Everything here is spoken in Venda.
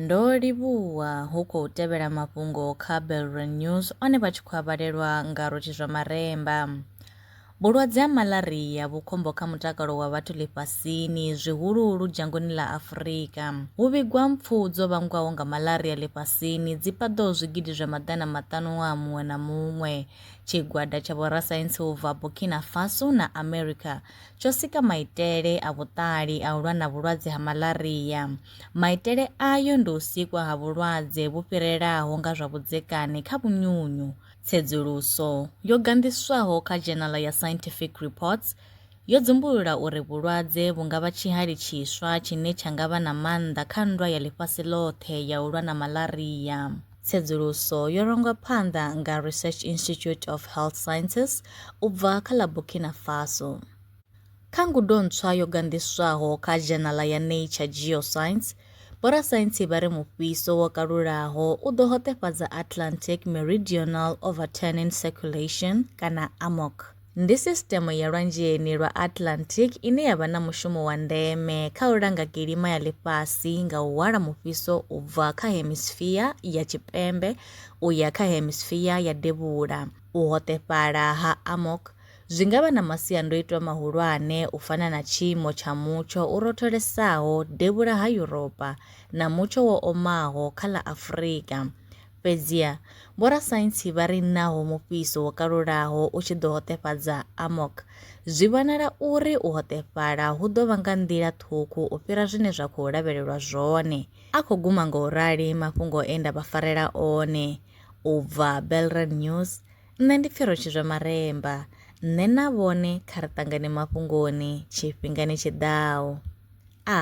Ndo livhuwa hu khou tevhela mafhungo kha Belrun News one vha tshi khou avhalelwa nga Rotshi zwa Maremba. Vhulwadze ha malaria vhu khombo kha mutakalo wa vhathu ḽifhasini zwihuluhulu dzhangoni ḽa Afurika. Hu vhigwa mpfu dzo vhangwaho nga malaria ḽifhasini dzi paḓaho zwigidi zwa maḓana maṱanu ṅwaha muṅwe na muṅwe. Tshigwada tsha vhorasaintsi u bva Burkina Faso na America tsho sika maitele a vhuṱali a u lwa na vhulwadze ha malaria. Maitele ayo ndi u sikwa ha vhulwadze vhu fhirelaho nga zwa vhudzekani kha vhunyunyu. Tsedzuluso yo ganḓiswaho kha dzhenala ya Scientific Reports yo dzumbulula uri vhulwadze vhu nga vha tshihali tshiswa tshine tsha nga vha na maanḓa kha nndwa ya ḽifhasi ḽoṱhe ya u lwa na malaria. Tsedzuluso yo rangwa phanḓa nga Research Institute of Health Sciences u bva kha ḽa Burkina Faso. Kha ngudo ntswa yo ganḓiswaho kha dzhenala ya Nature Geoscience, vhorasaintsi vha ri mufhiso wo kalulaho u ḓo hoṱefhadza Atlantic Meridional Overturning Circulation, kana AMOC. Ndi sisṱeme ya Lwanzheni lwa Atlantic ine ya vha na mushumo wa ndeme kha u langa kilima ya ḽifhasi nga u hwala mufhiso u bva kha hemisphere ya tshipembe u ya kha hemisphere ya devhula. U hoṱefhala ha amok zwi nga vha na masiandoitwa mahulwane u fana na tshiimo tsha mutsho u rotholesaho devhula ha Yuropa na mutsho wo omaho kha ḽa Afrika. Fhedziha vhorasaintsi vha ri naho mufhiso wo kalulaho u tshi ḓo hoṱefhadza amok, zwi vhonala uri u hoṱefhala hu ḓo vha nga nḓila ṱhukhu u fhira zwine zwa khou lavhelelwa zwone. A khou guma nga u rali mafhungo e nda vha farela one. U bva Belreal News, Nṋe ndi Pfiro Tshizwe Maremba. Nṋe na vhone kha ri ṱangane mafhungoni tshifhingani tshi ḓaho. A.